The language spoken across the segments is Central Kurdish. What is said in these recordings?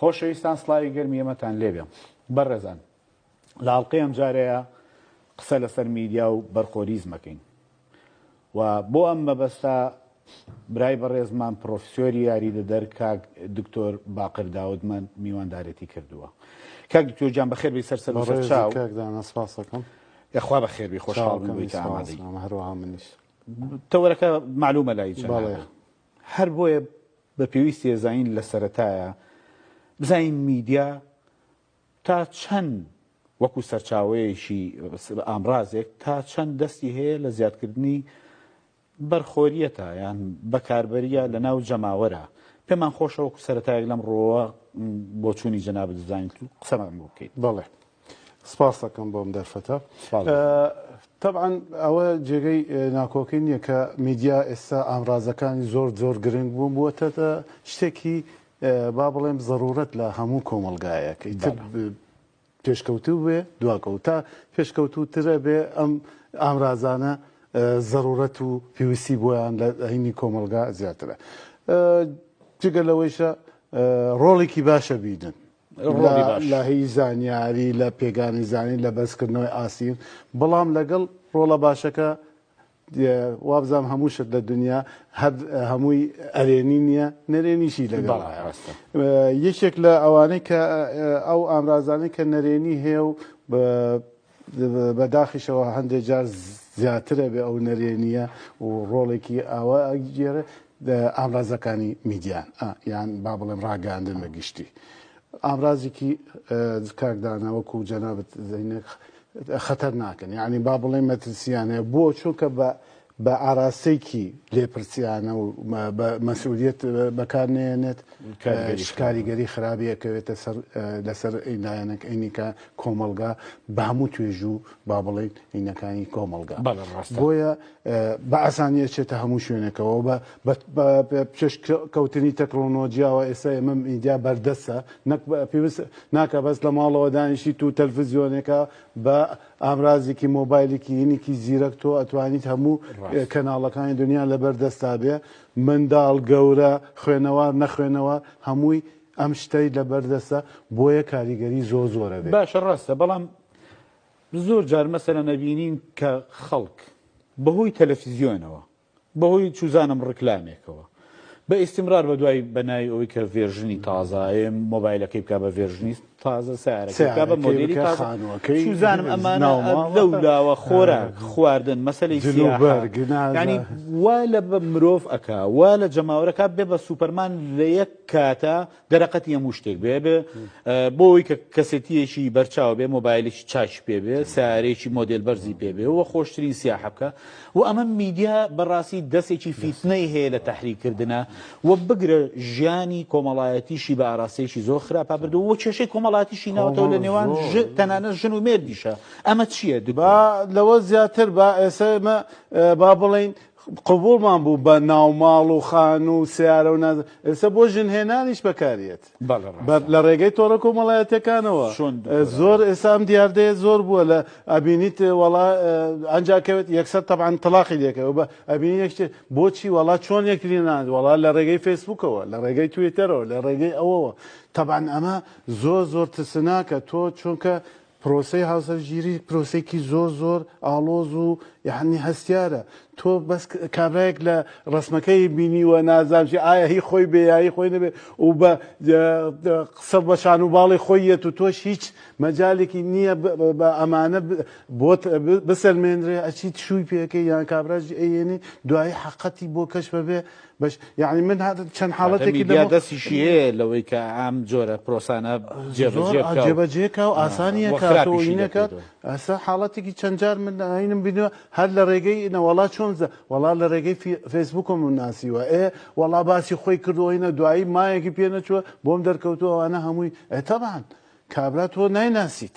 خۆشەویستان سڵاوی گەرمی ئێمەتان لێبێ بەڕێزان لە ئاڵلقەی ئەم جارەیە قسە لەسەر میدیا و بەرخۆریزم ئەکەین و بۆ ئەم مەبەستە برای بەڕێزمان پرۆفسۆری یاریدەدەر کاک دکتۆر باقر داودمان میواندارێتی کردووە کاک دکتۆر گیان بەخێر بی سەر سەر سەر چاو سپاسەکەم یخوا بەخێر بی خۆشحاڵ بوویت ئامادەی هەروەها منیش تەوەرەکە معلومە لای چەند هەر بۆیە بە پێویستیە زانین لە سەرەتایە بزانین میدیا تا چەند وەکو سەرچاوەیەکی ئامرازێک تا چەند دەستی هەیە لە زیادکردنی بەرخۆریەتە یان بەکاربەریە لە ناو جەماوەرە پێمان خۆشەوەکو سەتایەک لەم ڕۆوە بۆچوونی جەنابت زانیت و قسەمان بۆ بکەیت بەڵێ سپاستەکەم بۆم دەرفەتە تەبعەن ئەوە جێگەی ناکۆکەی نییە کە میدیا ئێستا ئامرازەکانی زۆر زۆر گرنگ بوون بووەتەتە شتێکی با بڵێم زەرورەت لە هەموو کۆمەلگایەکە ئیتر پێشکەوتوو بێ دواکەوت تا پێشکەوتووترە بێ ئەم ئامرازانە زەرورەت و پێویستی بۆیان لە هەینی کۆمەلگا زیاترە جگە لەوەیشە ڕۆڵێکی باشە بیدن لە هی زانیاری لە پێگانی زانین لە بەرزکردنەوەی ئاستی بەڵام لەگەڵ ڕۆڵە باشەکە وابزانام هەموو شت لە دنیا هەر هەمووی ئەرێنی نییە نەرێنیشی لەگەڵ یەکێک لە ئەوانەی کە ئەو ئامرازانەی کە نەرێنی هەیە و بە داخیشەوە هەندێ جار زیاتر ئەبێ ئەو نەرێنییە و ڕۆڵێکی ئاوا ئەگێرێ دە ئامرازەکانی میدیان ئا یان با بڵێم ڕاگەیاندن بە گشتی. ئامرازێکی ئە کاک دانا وەکوو جەنابت دەینێ خەتەرناکن یانی با بڵێم مەترسییانەیە بۆ چونکە بە بە ئاراستەیەکی لێپرسیانە و بە مەسئولییەت بەکار نەیەنێت، کاریگەری خراپی ئەکەوێتە سەر لەسەر لایەنەکانی کە کۆمەڵگا بە هەموو توێژ و با بڵێین ئینەکانی کۆمەڵگا بۆیە بە ئاسانی ئەچێتە هەموو شوێنەکەەوە بە پێش کەوتنی تەکنۆلۆژیاوە ئێستا ئێمە ئینجا بەردەسە نەک پێویست ناکە بەس لە ماڵەوە دانیشی تو تەلفزیۆنێکە بە ئامرازێکی مۆبایلێکی ینکی زیرەک تۆ ئەتوانیت هەموو ڕاست کەناڵەکانی دنیا لەبەر دەستتا بێ منداڵ گەورە خوێنەوار نەخوێنەوار هەمووی ئەم شتەی لەبەر دەستە بۆیە کاریگەری زۆر زۆر ئەبێ. باشە ڕاستە بەڵام زۆر جار مەسەلەن ئەبینین کە خەڵک بەهۆی تەلەفزیۆنەوە بەهۆی چوزانم ڕیکلامێکەوە بە ئیستیمرار بەدوای بەناوی ئەوەی کە ڤێرژنی تازە ئەوێ مۆبایلەکەی بکا بە ڤێرژنی تازە سارەکەی بکا بە مۆدێلی سیارەکەی بکە تازە خانووەکەی چوزانم ئەمانە ناوماڵ لەو لاوە خۆراک خواردن مەسەلەی جل و سیاحە بەرگ نازە یانی وا لە بە مرۆڤ ئەکا وا لە جەماوەرەکە بێ بە سوپەرمان لە یەک کاتە دەرەقەتی هەموو شتێک بێ بێ بۆ ئەوی کە کەسێتیەکی بەرچاو بێ مۆبایلێکی چاچ پێ بێ سارێکی مۆدل بەرزی پێ بێ وە خۆشترین سیاحەکە و ئەمە میدیا بەڕاستی دەستێکی فیتنەی هەیە لە تحریکردە و بگرە ژیانی کۆمەڵایەتیشی بە ئاراستەیەکی زۆر خراپە بردو و کێشەی کۆمەڵاتیشی ناوەوە لە نێوان تەنانە ژن و مێردیشە ئەمە چییە دوبا لەوە زیاتر بە ئێسمە با بڵین قبوڵمان بوو بە ناوماڵ و خانوو و سیارە و نازە ئێستا بۆ ژن هێنانیش بەکاریێت لە ڕێگەی تۆڕە کۆمەڵایەتەکانەوە زۆر ئێستا ئەم دیاردەیە زۆر بووە لە ئەبینیت وڵا ئەنجاکەوێت یەکسەر تەبان تەلاقی دەکەەوە بە ئەبینی یەکشتێ بۆچی وڵا چۆن یەکتری ناند وڵا لە ڕێگەی فەیسبوکەوە لە ڕێگەی توێتەرەوە لە ڕێگەی ئەوەوە تەبان ئەمە زۆر زۆر ترسناکە تۆ چونکە پرۆسەی هاوسەرگیری پرۆسەیەکی زۆر زۆر ئاڵۆز و یەحنی هەستیارە تۆ بەس کابرایەک لە ڕسمەکەی بینیوە نازام چی ئایا هی خۆی بێ یایی خۆی نەبێ و بە قسە بە شان و باڵی خۆی یەت و تۆش هیچ مەجالێکی نییە بە ئەمانە بۆت بسەلمێنرێ ئەچیت شووی پێەکەی یان کابراژی ئەیێنی دوایی حەقەتی بۆ کەش بەبێ بەش یعنی من هات چەند حاڵەتێکی دیا دەستیشی هەیە لەوەی کە ئام جۆرە پرۆسانە جێبەجێکە و ئاسانیە کاتۆینەکات ئەسا حاڵەتێکی چەندجار من ئاینم بینوە هەر لە ڕێگەی نەوەڵا چۆنزە وەڵا لە ڕێگەی فەیسبوکم من ناسیوە ئێ وەڵا باسی خۆی کردوەینە دوایی مایەکی پێ نەچوە بۆم دەرکەوتوەوانە هەمووی ئەتەبان کابرا تۆ نایناسیت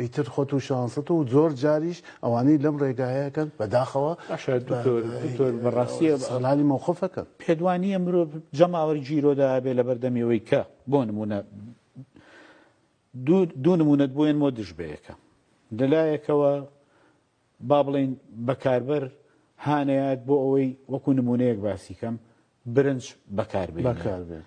ئیتر خۆت و شانست و زۆر جاریش ئەوانەی لەم ڕێگایە کەن بەداخەوە باشە دکتۆر دکتۆر بەڕاستی ئیستغلالی مەوقفەکەن. پێت وانییە مرۆڤ جەماوەری گیرۆدا ئەبێ لەبەردەمی ئەوەی کە بۆ نموونە دوو دوو نموونەت بۆێنمۆ دژ بەیەکە لەلایەکەوە با بڵێین بەکاربەر هانەیات بۆ ئەوەی وەکو نموونەیەک باسی کەم برنج بەکار بەکاربێت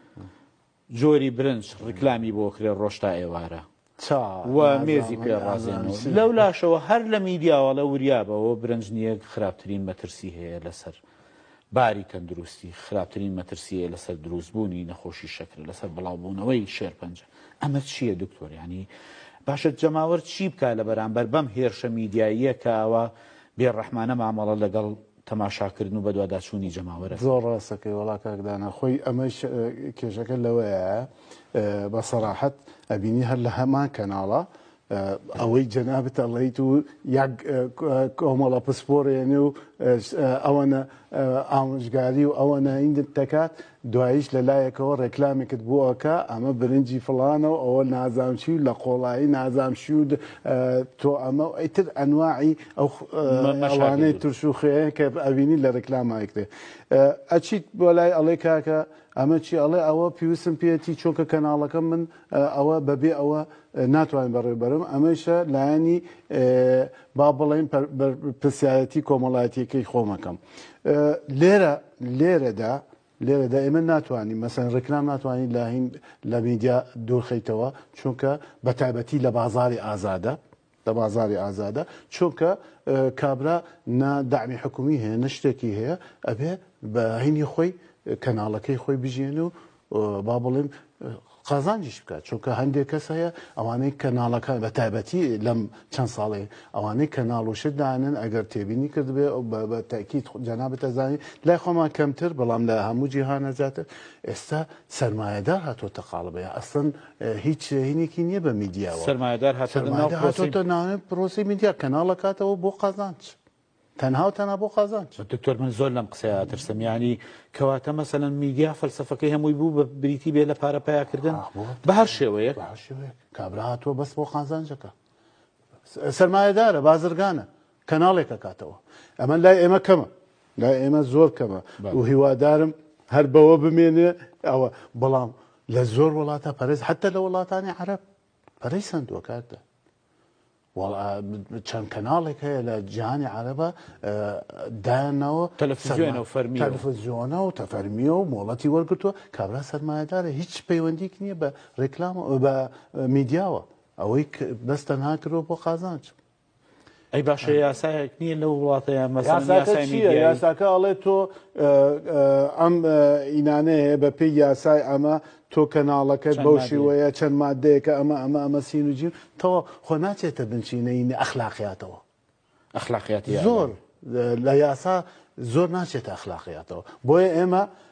جۆری برنج ڕیکلامی بۆ کرێ ڕۆژ تا ئێوارە چا و مێزی پێ ڕازێنەوە لەو لاشەوە هەر لە میدیاوەڵە وریابەوە برنج نییە خراپترین مەترسی هەیە لەسەر باری تەندروستی خراپترین مەترسیەیە لەسەر دروست بوونی نەخۆشی شەکرە لەسەر بڵاو بوونەوەی شێرپەنجە ئەمە چیە دکتۆر یانی باشە جەماوەر چی بکا لە بەرامبەر بەم هێرشە میدیاییە کە ئاوا بێ ڕەحمانە مامەڵە لەگەڵ تەماشاکردن و بەدواداچوونی جەماوەرە زۆر ڕاستەکەی وەڵا کاک دانا خۆی ئەمەش کێشەکە لەوەیە بە سەراحەت ئەبینی هەر لە هەمان کەناڵە ئەوەی جەنابت ئەڵێیت و یەک کۆمەڵە پسپۆرێنێ و ئەوەنە ئامۆژگاری و ئەوەنە ئیندت دەکات دوایش لە لایەکەوە ڕێکلامێکت بۆ ئەکا ئەمە برنجی فڵانە و ئەوە نازانچی و لە قۆڵایی نازانشی و تۆ ئەمە و ئەیتر ئەنواعی ئەو ئەوانەی ترش و خوێن کە ئەوینی لە ڕێکلامایکتێ ئەچیت بۆ لای ئەڵێ کاکە ئەمە چی ئەڵێ ئەوە پیوسم پێێتی چۆکە کەناڵەکەم من ئەوە بەبێ ئەوە ناتوانێت بەڕێ بەرم ئەمەیشە لایەنی با بڵێن پرسیارەتی کۆمەڵایەتیەکەی خۆمەکەم لێرە لێرەدا لێرەدا ئێمە ناتوانین مەسەن ڕێکلام ناتوانین لاهین لە میدیا دوورخیتەوە چونکە بە تایبەتی لە بازاری ئازادە لە بازاری ئازادا چونکە کابرا نە دەعمی حکومی هەیە نە شتێکی هەیە ئەبێ بە عینی خۆی کەناڵەکەی خۆی بژیێن و با بڵێم قازانجیش بکات چونکە هەندێک کەس هەیە ئەوانەی کەناڵەکان بە تایبەتی لەم چەند ساڵێ ئەوانەی کەناڵ و شت دانن ئەگەر تێبینی کردبێ ئەو بە تاکیت جەنابەتە زانین لای خۆمان کەمتر بەڵام لە هەموو جیهانە زیاتر ئێستا سەرمایەدار هاتۆتە قاڵب یا ئەسڵەن هیچ هینێکی نیە بە میدیاوە سەرمایەدار هاتۆتە ناو پرۆسەی سەرمایەدار هاتۆتە ناو پرۆسەی میدیا کەناڵ ئەکاتەوە بۆ قازانج تەنها و تەنها بۆ قازانج. دکتۆر من زۆر لەم قسەیە ئەترسم یانی کەواتە مەسەلەن میدیا فەلسەفەکەی هەمووی بوو بە بریتی بێ لە پارە پەیا کردن ئاخ بۆ بە هەر شێوەیەک بە هەر شێوەیەک کابرا هاتووە بەس بۆ قازانجەکە سەرمایەدارە بازرگانە کەناڵێک ئەکاتەوە ئەمە لای ئێمە کەمە لای ئێمە زۆر کەمە و هیوادارم هەر بەوە بمێنێ ئەوە بەڵام لە زۆر وڵاتە پەرێز حتە لە وڵاتانی عرب پەرەی سندوە کاکدا چەند کەناڵێک هەیە لە جیهانی عربە دایانەوە تەلەفزیۆنە و فەرمی تەلفزیۆنە و تەفەرمیە و مۆڵەتی وەرگتووە کابرا سەرمایهدارە هیچ پەیوەندیک نییە بە ڕێکلام بە میدیاوە ئەوەی بەس تەنها کرۆ بۆ قازانچ ئەی باشە یاسایەک نییە لەو وڵاتە یان یاساکە ئەڵێ تۆ ئەم ئینانەیە هەیە بە پێی یاسای ئەمە تۆ کەناڵەکەت بەو شێوەیە چەند مادەیەکە ئەمە ئەمە ئەمە سین و جیم تەوە خۆ ناچێتە بنچینەی ئەخلاقیاتەوە ئەخلاقیاتی زۆر لە یاسا زۆر ناچێتە ئەخلاقیاتەوە بۆیە ئێمە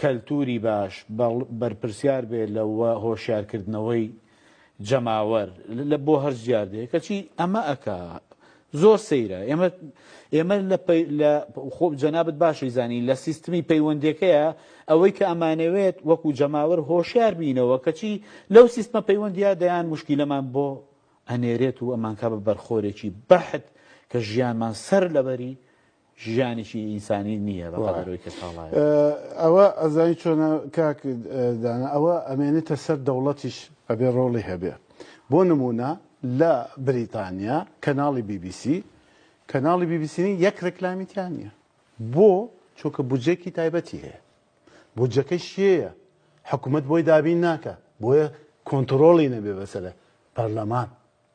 کەلتوری باش بەرپرسیار بێ لە و هۆشیار کردنەوەی جەماوەر لە بۆ هەرچ دیاردەیە کەچی ئەمە ئەکا زۆر سەیرە ئێمە ئێمە لە لە خۆ جەنابت باشی زانی لە سیستمی پەیوەندەکەیە ئەوەی کە ئەمانەوێت وەکو جەماوەر هۆشیار بینەوە کەچی لەو سیستمە پەیوەندیا دەیان مشکیلەمان بۆ ئەنێرێت و ئەمانکە بە بەرخۆرێکی بەحت کە ژیانمان سەر لەبەری ژیانێکی ئینسانی نییە بە قەدەر ئەوی کە کاڵایە. ئەوە ئەزانی چۆنە کاک دانا، ئەوە ئەمێنێتە سەر دەوڵەتیش ئەبێ ڕۆڵی هەبێ. بۆ نموونە لە بریتانیا کەناڵی بی بی سی، کەناڵی بی بی سی نین یەک ڕێکلامی تیا نییە. بۆ؟ چونکە بودجەیەکی تایبەتی هەیە. بودجەکەی شیێیە؟ حکومەت بۆی دابین ناکا. بۆیە کۆنتڕۆڵی نەبێ بەسەر پەرلەمان.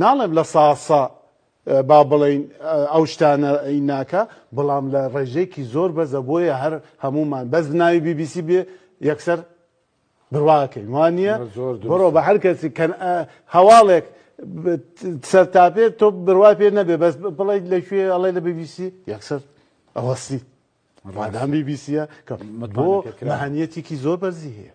ناڵێم لە سا سا با بڵێین ئەو شتانە ئی ناکە بەڵام لە ڕێژەیەکی زۆر بەزە بۆیە هەر هەمومان بەس بناوی بی بی سی بێ یەکسەر برواکەین وانە بڕۆ بە هەر کەسی کەن هەواڵێک سەر تاپێ تۆ بروای پێ نەبێ بەس بڵێ لەکوێ ئەڵێ لە بی بی سی یەکسەر ئەوەسی ڕادان بی بی سیە کە بۆ مەهانیەتێکی زۆر بەرزی هەیە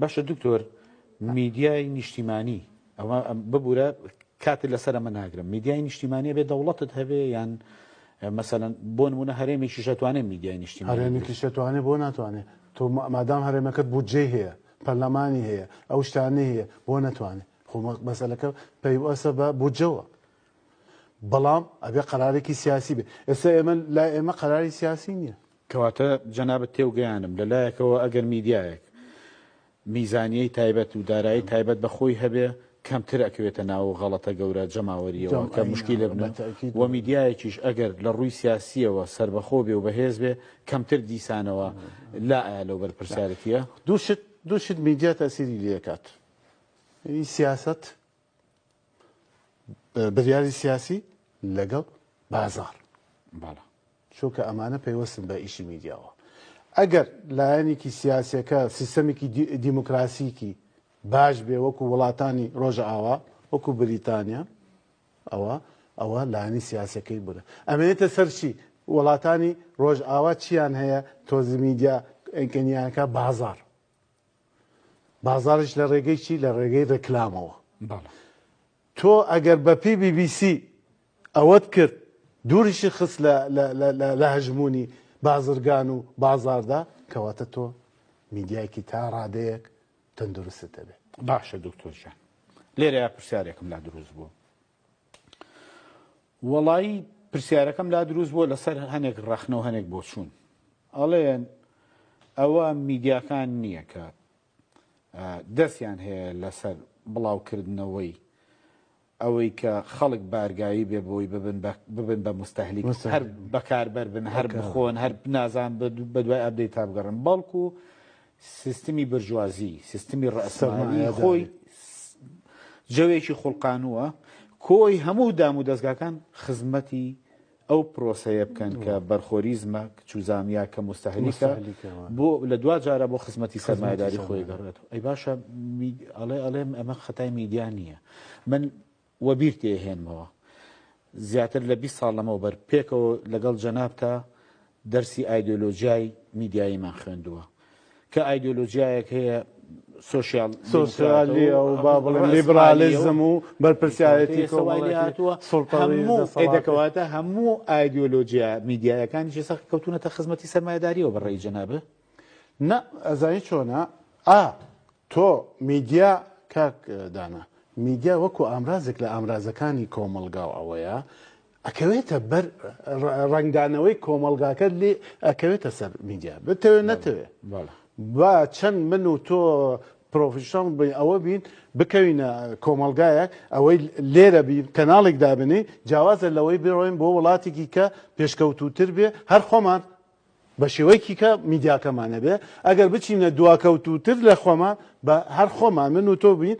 باشە دکتۆر میدیای نیشتیمانی ئەوە ببورە کاتت لەسەر ئەمە ناگرم میدیای نیشتیمانی بێ دەوڵەتت هەبێ یان مەسەن بۆ نمونە هەرێمێکی شەتوانێت میدیای نیشتی هەرێمێکی شەتوانێت بۆ ناتوانێت تۆ مادام هەرێمەکەت بودجێ هەیە پەرلەمانی هەیە ئەو شتانە هەیە بۆ نەتوانێت خۆمە مەسەلەکە پەیوەسە بە بودجەوە بەڵام ئەبێ قەرارێکی سیاسی بێ ئێستا ئێمە لا ئێمە قەراری سیاسی نییە کەواتە جەنابت تێوگەیاندم لە لایەکەوە ئەگەر میدیایەک میزانیەی تایبەت و دارایی تایبەت بە خۆی هەبێ کەمتر ئەکەوێتە ناو غەڵەتە گەورە جەماوەریەوە کە مشکیلە بنە و میدیایەکیش ئەگەر لە ڕووی سیاسیەوە سەربەخۆ بێ و بەهێز بێ کەمتر دیسانەوە لا ئایا لەو بەرپرسیارەتیە دوو شت دوو شت میدیا تاسیری لێکات یەی سیاسەت بریاری سیاسی لەگەڵ بازار چونکە ئەمانە پەیوەستن بە ئیشی میدیاوە ئەگەر لایەنێکی سیاسەکە سیستەمێکی دیموکراسیکی باش بێ وەکو وڵاتانی ڕۆژە ئاوا وەکو بریتانیا ئەوە ئەوە لایانی سیاسەکەی بوون ئەمێتە سەرچی وڵاتانی ڕۆژ ئاوا چیان هەیە تۆزی میدیا ئەگەنیانەکە بازار بازاڕیش لە ڕێگەی چی لە ڕێگەی ڕێکلامەوە بەڵێ تۆ ئەگەر بە پێی بی بی سی ئەوەت کرد دووریشی خست لە لە- لە- لە- لە هەژموونی بازرگان و بازاردا کەواتە تۆ میدیایەکی تا ڕادەیەک تەندروستت دەبێت باشە دکتۆر جان لێرە پرسیارێکم لا دروست بوو وەڵایی پرسیارەکەم لا دروست بووە لەسەر هەنێک ڕەخنە و هەنێک بۆچوون ئەڵێن ئەوە میدیاکان نییە کە دەستیان هەیە لەسەر بڵاوکردنەوەی ئەوەی کە خەڵک بارگایی بێ بۆی ببن بە مستەهلی هەر بەکاربەر بن هەر بخۆن هەر نازان بە دوای ئەبدەی تا بگەڕن بەڵکو سیستمی برجوازی، سیستمی ڕەئسمالی خۆی جەوێکی خوڵقانووە، کۆی هەموو دام و دەزگاکان خزمەتی ئەو پرۆسەیە بکەن کە بەرخۆری زمەک، چوزامیا کە موستەهلیکە، بۆ لە دواجارە بۆ خزمەتی سەرمایەداری خۆی گەڕێتەوە. ئەی باشە ئەڵێ ئەڵێ ئەمە خەتای میدیا نییە. من وەبیرت ئەهێنمەوە زیاتر لە بیست ساڵ لەمەوبەر پێکەوە لەگەڵ جەنابتا دەرسی ئایدۆلۆژیای میدیاییمان خوێندووە کە ئایدۆلۆژیایەک هەیە سۆشیال سۆسیالیە و با بڵێن لیبرالیزم و بەرپرسیارەتی کۆمەڵی هاتووە سڵتەڵی دەکەواتە هەموو ئایدۆلۆژیا میدیایەکانیشی سەخت کەوتونەتە خزمەتی سەرمایداریەوە بەڕێی جەنابە نا ئەزانی چۆنە ئا تۆ میدیا کاک دانا میدیا وەکو ئامرازێک لە ئامرازەکانی کۆمەلگا و ئەوەیە ئەکەوێتە بەر ڕنگدانەوەی کۆمەلگاکە لێ ئەکەوێتە سەر میدیا بتەوێت نەتەوێت با چەند من و تۆ پرۆفیشنڵ بین ئەوە بین بکەوینە کۆمەلگایەک ئەوەی لێرە بین کەناڵێک دابنی جیاوازە لەوەی بڕۆین بۆ وڵاتێکی کە پێشکەوتوتر بێ هەر خۆمان بە شێوەیەکی کە میدیاکەمان نەبێ، ئەگەر بچینە دواکەوتووتر لە خۆمان، بە هەر خۆمان من و تۆ بین،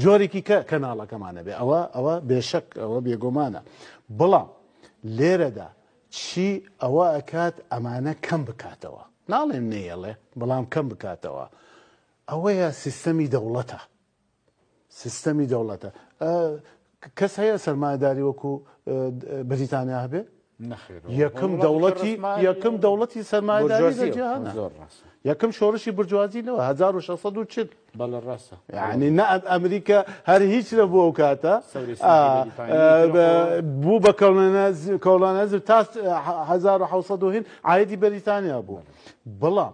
جۆرێکی کە کەناڵەکەمان نەبێ، ئەوە ئەوە بێشەک ئەوە بێگۆمانە. بەڵام لێرەدا چی ئەوە ئەکات ئەمانە کەم بکاتەوە؟ ناڵێم نەیەڵێ، بەڵام کەم بکاتەوە. ئەوەیە سیستەمی دەوڵەتە. سیستەمی دەوڵەتە ئە کەس هەیە سەرمایەداری وەکو بریتانیا هەبێ یەکم دەوڵەتی یەکم دەوڵەتی سەرمایەداری لە جیهان یەکم شۆڕشی برجوازی لەوە 1640 بەڵە ڕاستە یعنی نە ئەمریکا هەر هیچ لە بۆ ئەو کاتە بوو بە کەڵانەز تا 1970 ئایدی بەریتانیا بوو بەڵام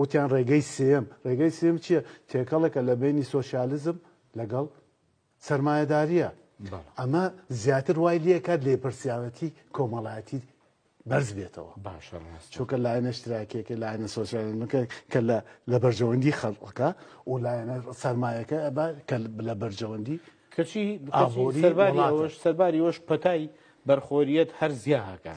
وتیان ڕێگەی سێیەم، ڕێگەی سێیەم چییە؟ تێکەڵێکە لە بەینی سۆسیالزم لەگەڵ سەرمایەدارییە. ئەمە زیاتر وای لێکات لێپرسیارەتی کۆمەڵایەتی بەرز بێتەوە باشە چۆکە لایەنە شتراکێکە لایەنە سۆسیالەکە کە لە بەرژەوەندی خەڵقەکە و لایەنە سەرمایەکە کە لە بەرژەوەندی کەچی سەرباری ئەوش پەتای بەرخۆریت هەر زیاکە.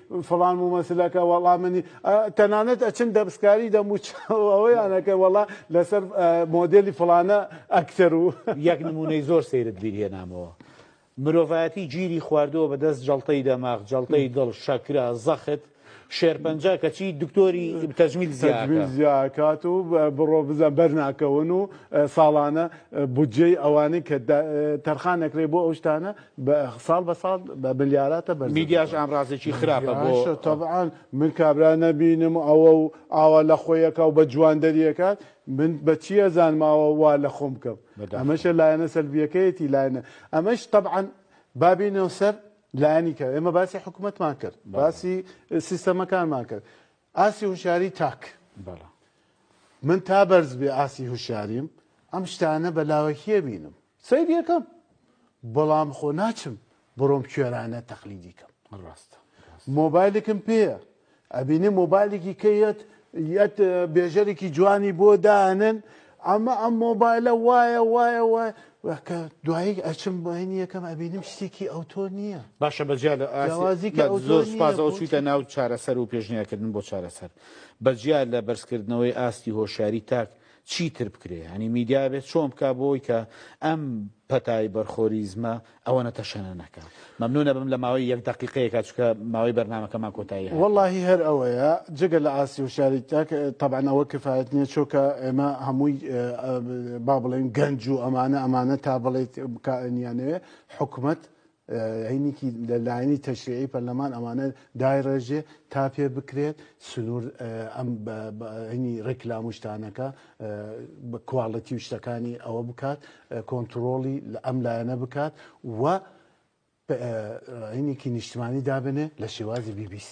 فڵان مومەسلەکە وەڵا منی ئە تەنانەت ئەچن دەبسکاری دەموچ ئەوەیان ئەکەن وەڵا لەسەر ئە مۆدێلی فڵانە ئەکتەر و یەک نموونەی زۆر سەیرت بیر هێنامەوە مرۆڤایەتی گیری خواردووە بە دەست جەڵتەی دەماغ، جەڵتەی دڵ، شەکرە، زەخت، شێرپەنجە کەچی دکتۆری تەجمیل زیا تەجمیل ئەکا. زیا ئەکات و بڕۆ بزە بەر ناکەون و ساڵانە بودجەی ئەوانەی کە دا تەرخان ئەکرێ بۆ ئەو شتانە بە ساڵ بە ساڵ بە ملیاراتە بەرزە میدیاش دەکەن. ئامرازێکی خراپە بۆ میدیاشە تەبعان من کابرا نەبینم ئەوە و ئاوا لە خۆی ئەکا و بە جواندەری ئەکات من بە چی ئەزانم ئاوا وا لە خۆم بکەم؟ بەداخەوە. ئەمەشە لایەنە سەلبییەکەیەتی لایەنە ئەمەش تەبعان با بێینەوە سەر لایەنی کە ئێمە باسی حکوومەتمان کرد باسی سیستەمەکانمان کرد ئاستی هوشیاری تاک بەڵێ. من تا بەرز بێ ئاستی هوشیاریم ئەم شتانە بە لاوەکییە بینم. سەیری ئەکەم بەڵام خۆ ناچم بڕۆم کوێرانە تەقلیدی کەم ڕاستە مۆبایلێکم پێیە ئەبینێ مۆبایلێکی کەیەت یەت بێژەرێکی جوانی بۆ دانن ئەمە ئەم مۆبایلە وایە وایە وایە وەکە دوایی ئەچم بەینی یەکەم ئەبینم شتێکی ئەوتۆ نییە باشە بەجیا لە ئازیکە زۆر سپاز ئەو چویتە ناو چارەسەر و پێشنیارکردن بۆ چارەسەر بەجیا لە بەرزکردنەوەی ئاستی هۆشاری تاک چی تر بکرێ یانی میدیا بێ چۆن بکا بۆی کە ئەم پەتای بەرخۆریزمە ئەوەنە تەشەنە نەکا مەمنونە بم لە ماوەی یەک دەقیقەیەکە چکە ماوەی بەرنامەکەمان کۆتایی هات. وەڵاهی هەر ئەوەیە جگە لە ئاستی هوشیاری تاک تەبعەن ئەوە کفایەت نیە چۆکە ئێمە هەمووی با بڵێن گەنج و ئەمانە ئەمانە تا بڵێیت کائنیانەیە حکومەت عینیکی لە لایەنی تەشریعی پەرلەمان ئەمانە دایڕێژێ تا پێ بکرێت سنوور ئەم عینی ڕێکلام و شتانەکە بە کواڵەتی و شتەکانی ئەوە بکات کۆنتترۆڵی لە ئەم لایەنە بکات و عینیکی نیشتمانی دابنێ لە شێوازی BBC.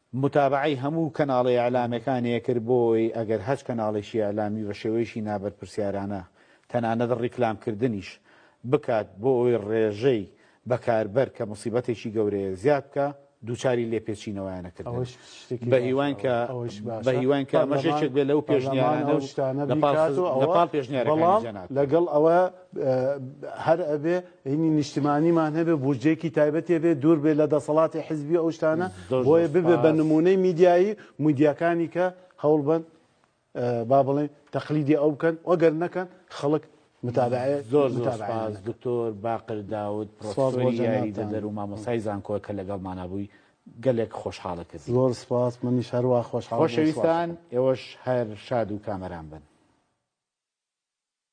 متابەعەی هەموو کەناڵە ئیعلامەکانێ کرد بۆ ئەوەی ئەگەر هەچ کەناڵێکی ئیعلامی بە شێوەیەکی نابەرپرسیارانە تەنانەت ڕیکلام کردنیش بکات بۆ ئەوەی ڕێژەی بەکاربەر کە موسیبەتێکی گەورەیە زیاد بکا دووچاری لێپێچینەوەیانە کردن ئەوەش شتێکی بە باشە هیواین کە ئەوە ئەوەش بە باشە هیواین کە ئەمەش پەرلەمان یەکێک بێ لەو پەرلەمان پێشنیارانە ئەو و شتانە لە پاڵ بیکات و خز لە ئەوە پاڵ پێشنیارەکانی بەڵام جێ ناکەوێ. لەگەڵ ئەوە هەر ئەبێ هینی نیشتمانیمان هەبێ بودجەیەکی تایبەتێ بێ دوور بێ لە دەسەڵاتی حزبی ئەو شتانە بۆیە ببێ بە نمونەی میدیایی میدیاکانی کە هەوڵبن با بڵێن تەقلیدی ئەو بکەن وەگەر نەکەن خەڵک متابعێ زۆر زۆرپاز دکتۆر باقر داود پرۆسۆری دەدەر و مامۆسای زانکۆ کە لەگەڵمانە بووی گەلێک خۆشحاڵە کرد زۆر سپاس منی شەروا خۆشحاڵ خۆشەویستان ئێوەش هەر شاد و کامەران بن